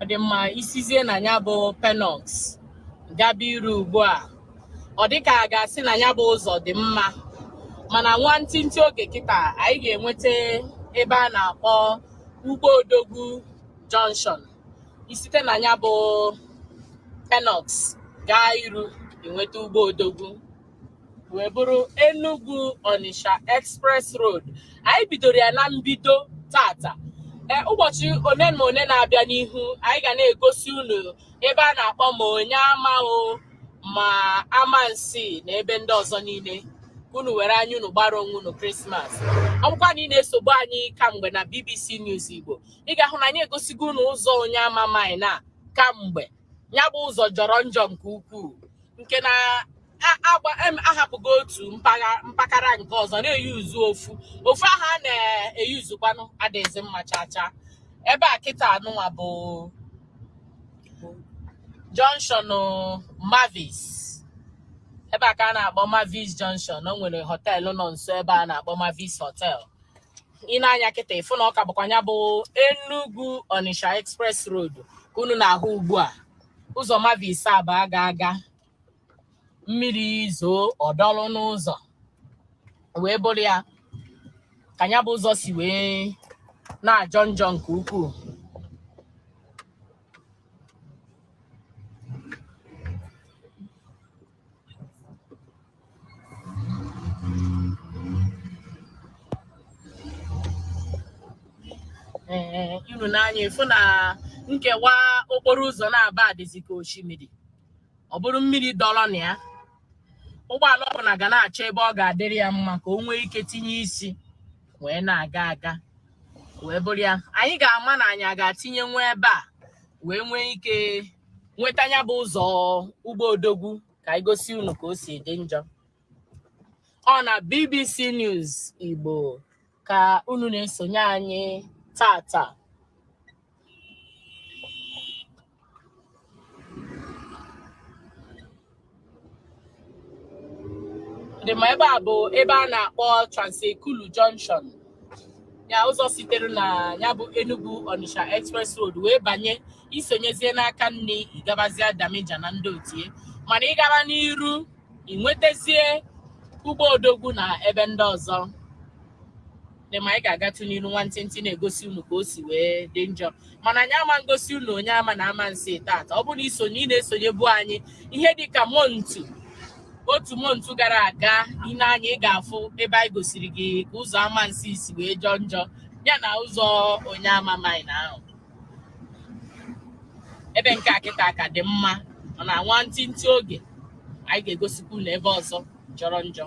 [SPEAKER 1] ọ dị mma i sizie na ya bụ penoks gaba iru ugbu a ọ dịka a ga-asị na ya bụ ụzọ dị mma mana nwantịntị oge kịta anyị ga-enweta ebe a na-akpọ ugbo odogwu junction i site na ya bụ penoks gaa iru i nweta ugbo odogwu wee bụrụ Enugu Onitsha Express Road anyị bidoro ya na mbido tata e, ụbọchị one na one na-abịa n'ihu anyị ga na-egosi unu ebe a na-akpọ ma Onyeama o ma Amansea na ebe ndị ọzọ niile unu were anya unu gbara onwe unu krismas ọ bụkwa na ị na-esobu anyị kamgbe na BBC News Igbo ị ga-ahụ na anyị egosigo unu ụzọ Onyeama mine a kamgbe ya bụ ụzọ jọrọ njọ nke ukwuu nke na a hapụgo otu mpaghara nke ọzọ na-eyuzu ofu ofu ahụ a na-eyuzukwanụ adịghịzi mma chacha ebe a kịta anụnwa bụ Junction Mavis ebe a ka a na-akpọ Mavis Junction o nwere họteelụ nọ nso ebe a na-akpọ Mavis Hotel i nee anya kịta ị fụ na ọ ka bụkwa ya bụ Enugu Onitsha Express Road ka unu na-ahụ ugbu a ụzọ Mavis a bụ a ga-aga mmiri zoo ọ dọlụ n'ụzọ wee bụrụ ya ka ya bụ ụzọ si wee na-ajọ njọ nke ukwuu ee unu nee anya ị fụ na nkewa okporo ụzọ naabọ adịzi ka osimiri ọ bụrụ mmiri dọrọ na ya ụgbọala ọbụla ga na-achọ ebe ọ ga-adịrị ya mma ka o nwee ike tinye isi wee na-aga aga wee bụrụ ya anyị ga-ama na anyị a ga-atinye nwa ebe a wee nwee ike nweta ya bụ ụzọ Ugbo Odogwu ka anyị gosi unu ka o si dị njọ ọ na BBC News Igbo ka unu na-esonye anyị tata dị mma ebe a bụ ebe a na-akpọ Transekulu Junction ya ụzọ sitere na ya bụ Enugu Onitsha Express Road wee banye i sonyezie n'aka nne ị gabazie Damija na ndị otie mana ị gara n'iru i nwetazie Ugbo Odogwu na ebe ndị ọzọ dị mma anyị ga-agatụ n'iru nwantịntị na-egosi unu ka o si wee dị njọ mana anyị ama ngosi unu Onyeama na Amansi tata ọ bụrụ na i sonye ị na-esonyebu anyị ihe dị ka montu otu montu gara aga i nee anya ị ga-afụ ebe anyị gosiri gị ka ụzọ Amansi si wee jọọ njọ ya na ụzọ Onyeama Mine ahụ ebe nke a kịta ka dị mma mana nwantịntị oge anyị ga-egosikwa unu ebe ọzọ jọrọ njọ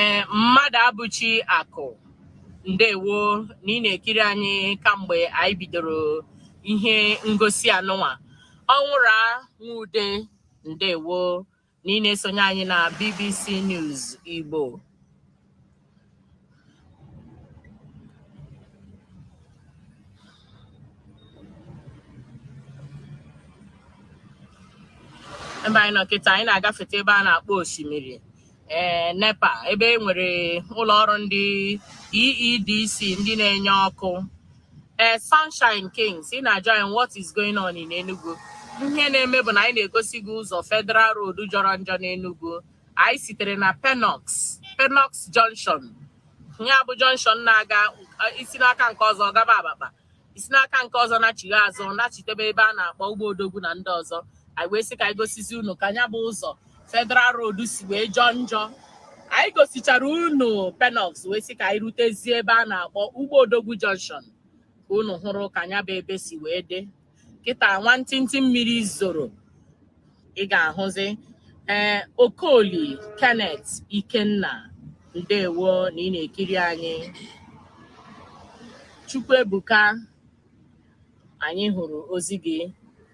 [SPEAKER 1] ee Mmadụabụchi Akụ ndewo na ị na-ekiri anyị kamgbe anyị bidoro ihe ngosi anụnwa Ọnwụra Nwude ndewo na ị na-esonye anyị na BBC News Igbo ebe anyị nọ kịta anyị na-agafeta ebe a na-akpọ osimiri ee eh, NEPA ebe e nwere ụlọ ọrụ ndị EEDC ndị na-enye ọkụ ee eh, Sunshine Kings ị na-ajụ anyị what is going on in Enugu ihe na-eme bụ na anyị na-egosi gị ụzọ Federal Road jọrọ njọ n'Enugu anyị sitere na Penoks Penoks Junction ya bụ junction na-aga eh, i si n'aka nke ọzọ gaba Abakpa i si n'aka nke ọzọ nachigha azụ nachitebe ebe a na-akpọ Ugbo Odogwu na ndị ọzọ anyị wee sị ka anyị gosizi unu ka nya bụ ụzọ Federal Road si wee jọọ njọ anyị gosichara unu Penoks wee sị ka anyị rutezie ebe a na-akpọ Ugbo Odogwu Junction ka unu hụrụ ka nya bụ ebe si wee dị kịta nwantịntị mmiri zoro ị ga-ahụzi ee eh, Okoli Kenneth Ikenna ndewo na ị na-ekiri anyị Chukwuebuka anyị hụrụ ozi gị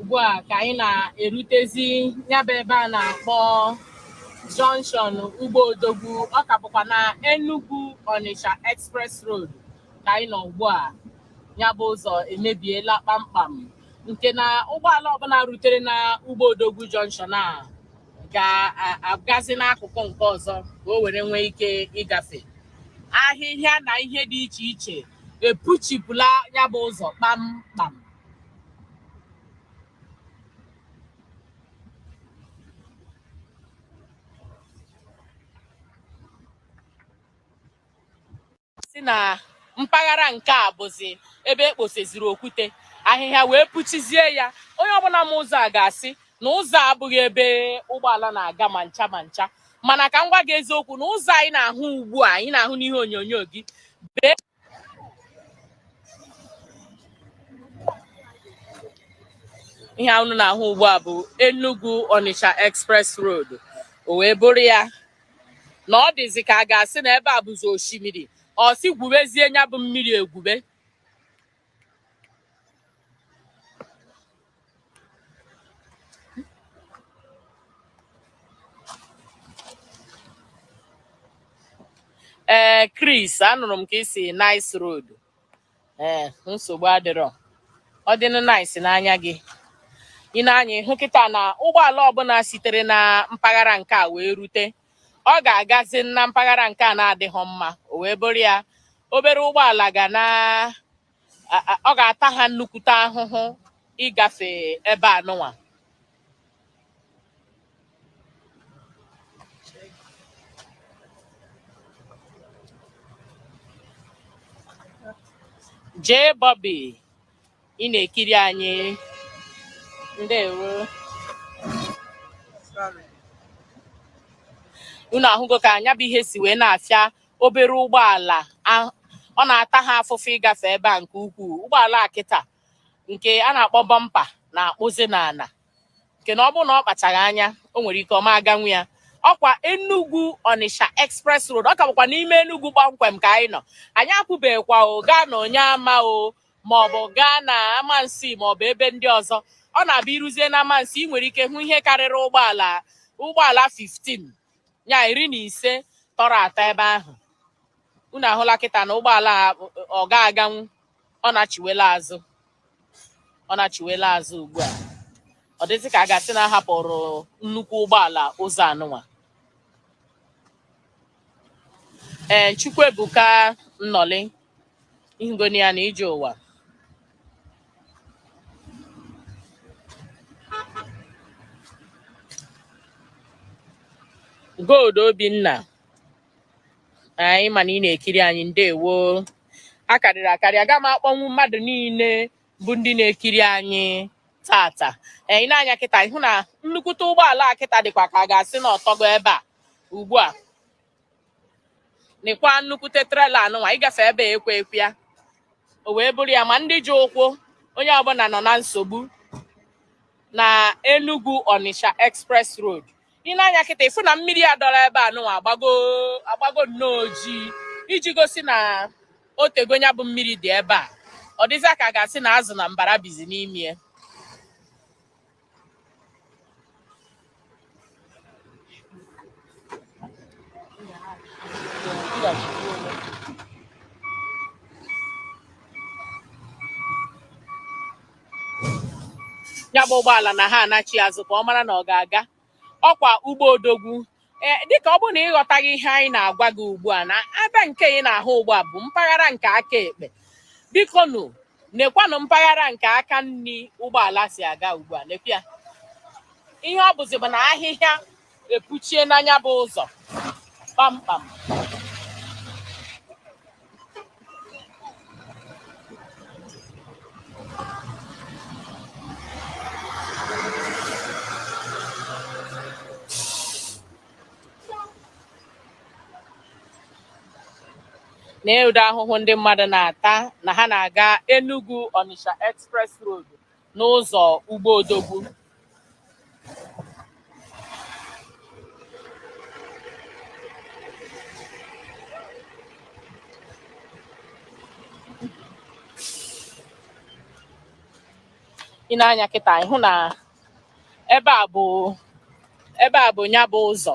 [SPEAKER 1] ugbu a ka anyị na-erutezi ya bụ ebe a na-akpọ junction Ugbo Odogwu ọ ka bụkwa na Enugu Onitsha Express Road ka anyị nọ ugbu a ya bụ ụzọ emebiela kpamkpam nke na ụgbọala ọbụla rutere na Ugbo Odogwu junction a ga-agazi n'akụkụ nke ọzọ ka o were nwee ike ịgafe ahịhịa na ihe dị iche iche epuchipụla ya bụ ụzọ kpamkpam si na mpaghara nke a bụzi ebe e kposeziri okwute ahịhịa wee puchizie ya onye ọbụla ma ụzọ a ga-asị na ụzọ a abụghị ebe ụgbọala na-aga ma ncha ma ncha mana ka m gwa gị eziokwu na ụzọ a ị na-ahụ ugbu a ị na-ahụ n'ihe onyonyo gị ee ihe unu na-ahụ ugbu a bụ Enugu Onitsha Express Road o wee bụrụ ya na ọ dịzi ka a ga-asị na ebe a bụzi osimiri ọ sị gwubezie nya bụ mmiri egwube ee eh, Chris anụrụ m ka ị sị nice road ee eh, nsogbu adịrọ ọ dịnụ nice n'anya gị i nee anya ị hụ kịta na ụgbọala ọbụla sitere na mpaghara nke a wee rute ọ ga-agazi na mpaghara nke a na-adịghị mma o wee bụrụ ya obere ụgbọala ga na ọ ga-ata ha nnukwute ahụhụ ịgafe ebe anụnwa jee Bobby ị na-ekiri anyị ndewo unu ahụgo ka nya bụ ihe si wee na-afịa obere ụgbọala ọ na-ata ha afụfụ ịgafe ebe a nke ukwuu ụgbọala a kịta nke a na-akpọ bọmpa na-akpụzi n'ala nke na ọ bụrụ na ọ kpachaghị anya o nwere ike ọ ma aganwu ya ọkwa Enugu Onitsha Express Road ọ ka bụkwa n'ime Enugu kpọmkwem ka anyị nọ anyị apụbeghịkwa o gaa na Onyeama o maọbụ gaa na Amansi maọbụ ebe ndị ọzọ ọ na-abụ i ruzie na Amansi ị nwere ike hụ ihe karịrị ụgbọala ụgbọala 15 ya iri na ise tọrọ atọ ebe ahụ unu ahụla kịta na ụgbọala ọ ga-aganwu ọ nachiwela azụ ọ nachiwela azụ ugbu a ọ dịzị ka a ga-asị na a hapụrụ nnukwu ụgbọala ụzọ anụnwa ee Chukwuebuka Nnọlị ị hụgonị ya na ije ụwa Gold Obinna anyị ma na ị na-ekiri anyị ndewo akarịrị akarị aga m akpọnwu mmadụ niile bụ ndị na-ekiri anyị tata i nee anya kịta ị hụ na nnukwute ụgbọala a kịta dịkwa ka a ga-asị na ọ tọgo ebe a ugbu a nekwa nnukwute trela anụnwa ịgafe ebe ekwe ekwe ya o wee bụrụ ya ma ndị ji ụkwụ onye ọbụla nọ na nsogbu na Enugu Onitsha Express Road i nee anya kịta ị fụ na mmiri a dọrọ ebe anụnwa agbago nnọọ ojii iji gosi na o tego nya bụ mmiri dị ebe a ọ dịzịa ka a ga-asị na azụ na mbara bizi n'ime ya ya bụ ụgbọala na ha anachi azụ ka ọ mara na ọ ga-aga ọkwa ụgbọ odogwu ee dịka ọ bụrụ na ị ghọtaghị ihe anyị na-agwa gị ugbu a na ebe nke ị na-ahụ ugbu a bụ mpaghara nke aka ekpe bikonụ nekwanụ mpaghara nke aka nri ụgbọala si aga ugbu a nekwa ya ihe ọ bụzi bụ na ahịhịa epuchiena nya bụ ụzọ kpamkpam nee ụdị ahụhụ ndị mmadụ na-ata na ha na-aga Enugu Onitsha Express Road n'ụzọ ugbo odogwu i nee anya kịta ị hụ na ebe a bụ nya bụ ụzọ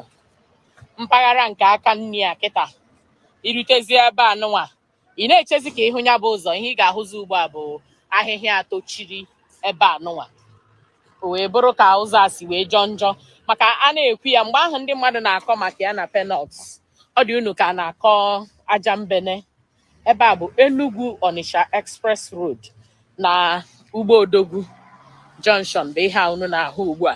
[SPEAKER 1] mpaghara nke aka nri a kịta i rutezie ebe a nụnwa ị na-echezi ka ị hụ nya bụ ụzọ ihe ị ga-ahụzi ugbu a bụ ahịhịa tochiri ebe a nụnwa o wee bụrụ ka ụzọ a si wee jọọ njọ maka a na-ekwu ya mgbe ahụ ndị mmadụ na-akọ maka ya na Penoks ọ dị unu ka a na-akọ ajambene ebe a bụ Enugu Onitsha Express Road na Ugbo Odogwu Junction bụ ihe a unu na-ahụ ugbu a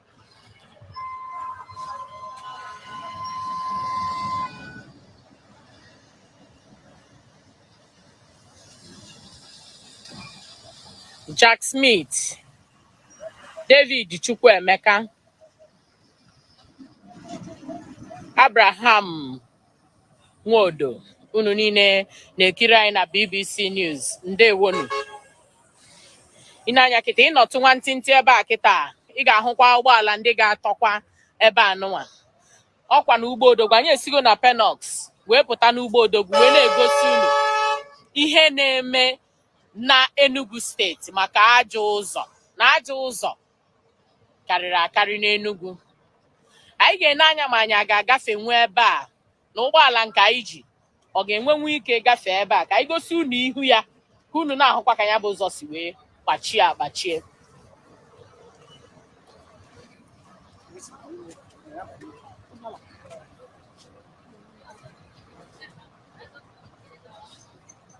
[SPEAKER 1] Jack Smith, David Chukwuemeka, Abraham Nwodo unu niile na-ekiri anyị na BBC News ndewonu i nee anya kịta ị nọtụ nwantịntị ebe a kịta ị ga-ahụkwa ụgbọala ndị ga-atọkwa ebe a nụnwa ọ kwa na ugbo odogwu anyị esigo na Penoks wee pụta n'ugbo odogwu wee na-egosi unu ihe na-eme na Enugu steeti maka ajọ ụzọ na ajọ ụzọ karịrị akarị n'Enugwu anyị ga-ene anya ma anyị ga-agafenwu ebe a na ụgbọala nke anyị ji ọ ga-enwenwu ike gafee ebe a ka anyị gosi unu ihu ya ka unu na-ahụkwa ka nya bụ ụzọ si wee gbachie agbachie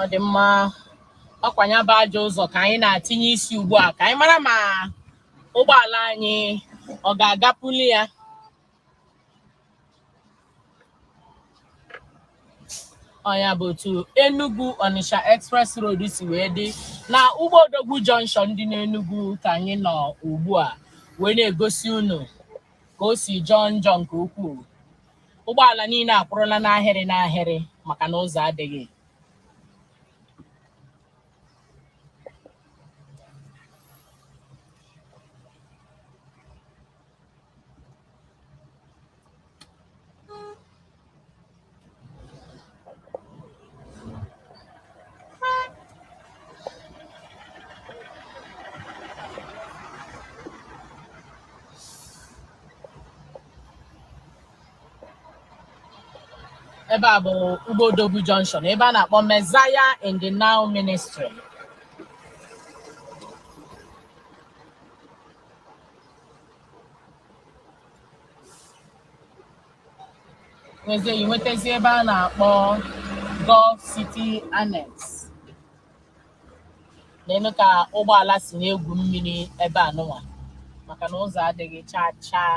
[SPEAKER 1] ọ dị mma ọ kwa nya bụ ajọ ụzọ ka anyị na-atinye isi ugbu a ka anyị mara ma ụgbọala anyị ọ ga-agapụli ya ọ nya bụ otu Enugu Onitsha Express Road si wee dị na Ugbo Odogwu junction dị n'Enugu ka anyị nọ ugbu a wee na-egosi unu ka o si jọọ njọ nke ukwuu ụgbọala niile akwụrụla n'ahịrị n'ahịrị maka na ụzọ adịghị ebe a bụ Ugbo Odogwu Junction ebe a na-akpọ Messiah in the Now Ministry nwezie i nwetazie ebe a na-akpọ Golf City Annex neenụ ka ụgbọala si na-egwu mmiri ebe a nụnwa maka na ụzọ adịghị chaa chaa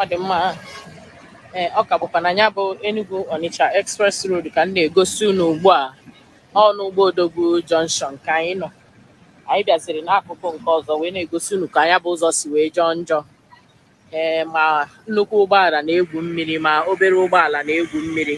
[SPEAKER 1] ọ dị mma ee ọ ka bụkwa na ya bụ Enugu Onitsha Express Road ka m na-egosi unu ugbu a ọ n'Ugbo Odogwu Junction ka anyị nọ anyị bịaziri n'akụkụ nke ọzọ wee na-egosi unu ka ya bụ ụzọ si wee jọọ njọ ee ma nnukwu ụgbọala na-egwu mmiri ma obere ụgbọala na-egwu mmiri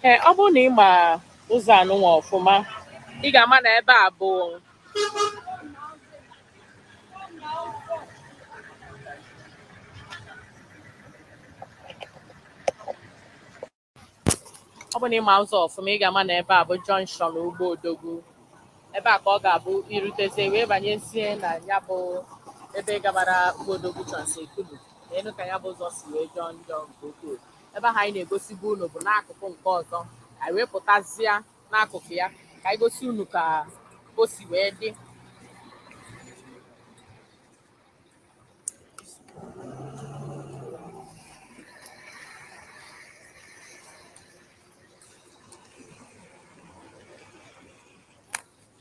[SPEAKER 1] ee ọ bụrụ na ị ma ụzọ anụnwa ọfụma ị ga-ama na ebe a bụ ọ bụ na ị ma ụzọ ọfụma ị ga-ama na ebe a bụ junction Ugbo Odogwu ebe a ka ọ ga-abụ i rutezie wee banyezie na ya bụ ebe gabara Ugbo Odogwu Trans Ekulu neenụ ka ya bụ ụzọ si wee jọọ njọ nke ukwuu ebe ahụ anyị na-egosibu unu bụ n'akụkụ nke ọzọ anyị wee pụtazịa n'akụkụ ya ka anyị gosi unu ka o si wee dị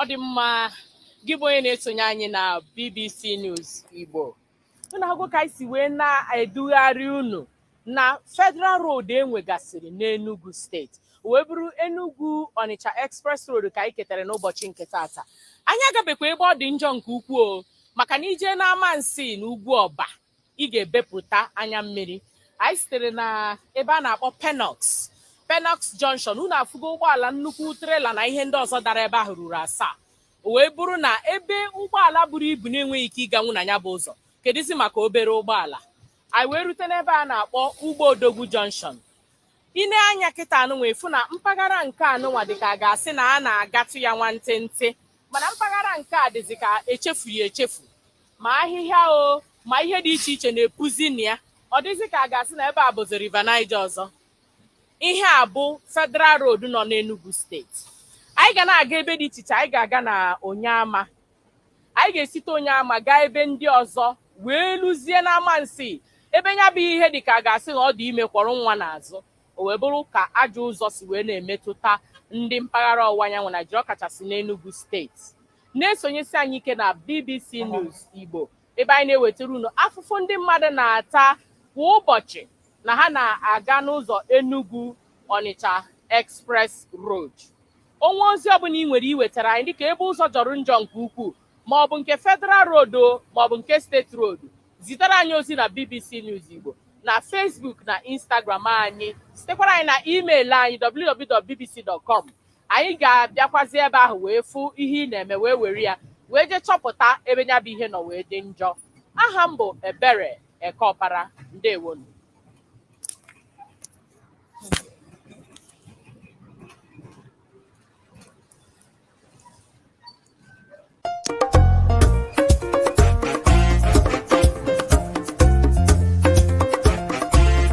[SPEAKER 1] ọ dị mma gị bụ onye na-esonye anyị na BBC News Igbo unu ahụgo ka anyị si wee na-edugharị unu na Federal Road e nwegasịrị n'Enugu steeti wee bụrụ Enugu Onitsha Express Road ka anyị ketara n'ụbọchị nke taata anyị agabekwa ebe ọ dị njọ nke ukwuu maka na i jee n'Amansea na Ugwuọba ị ga-ebepụta anya mmiri anyị sitere na ebe a na-akpọ Penox Penox Junction unu afụgo ụgbọala nnukwu trela na ihe ndị ọzọ dara ebe ahụ ruru asaa o wee bụrụ na ebe ụgbọala buru ibu na-enweghị ike ịganwu na ya bụ ụzọ kedụzi maka obere ụgbọala anyị wee rute n'ebe a na-akpọ Ugbo Odogwu Junction i nee anya kịta anụnwa ị fụ na mpaghara nke anụnwa dị ka a ga-asị na a na-agatụ ya nwantịntị mana mpaghara nke a dịzi ka e chefu ya echefu ma ahịhịa o ma ihe dị iche iche na-epuzi na ya ọ dịzị ka a ga-asị na ebe a bụzi River Niger ọzọ ihe a bụ Federal Road nọ n'Enugu steeti anyị ga na-aga ebe dị iche iche anyị ga-aga na Onyeama anyị ga-esite Onyeama gaa ebe ndị ọzọ wee luzie n'Amansi ebe ya bụ ihe dị ka a ga-asị na ọ dị ime kwọrọ nwa n'azụ o wee bụrụ ka ajọ ụzọ si wee na-emetụta ndị mpaghara ọwụwa anyanwụ Naijiria ọkachasị n'Enugu steeti na-esonyesi anyị ike na BBC News Igbo ebe anyị na-ewetara unu afụfụ ndị mmadụ na-ata kwa ụbọchị na ha na-aga n'ụzọ Enugu Onitsha Express Road o nwee ozi ọbụla ị nwere iwetara anyị dịka ebe ụzọ jọrọ njọ nke ukwuu ma ọ bụ nke Federal Road ma ọ bụ nke State Road zitere anyị ozi na BBC News Igbo na Facebook na Instagram anyị zitekwara anyị na email anyị www.bbc.com anyị ga-abịakwazi ebe ahụ wee fụ ihe ị na-eme wee were ya wee jee chọpụta ebe ya bụ ihe nọ wee dị njọ aha m bụ Ebere Ekeọpara ndewonu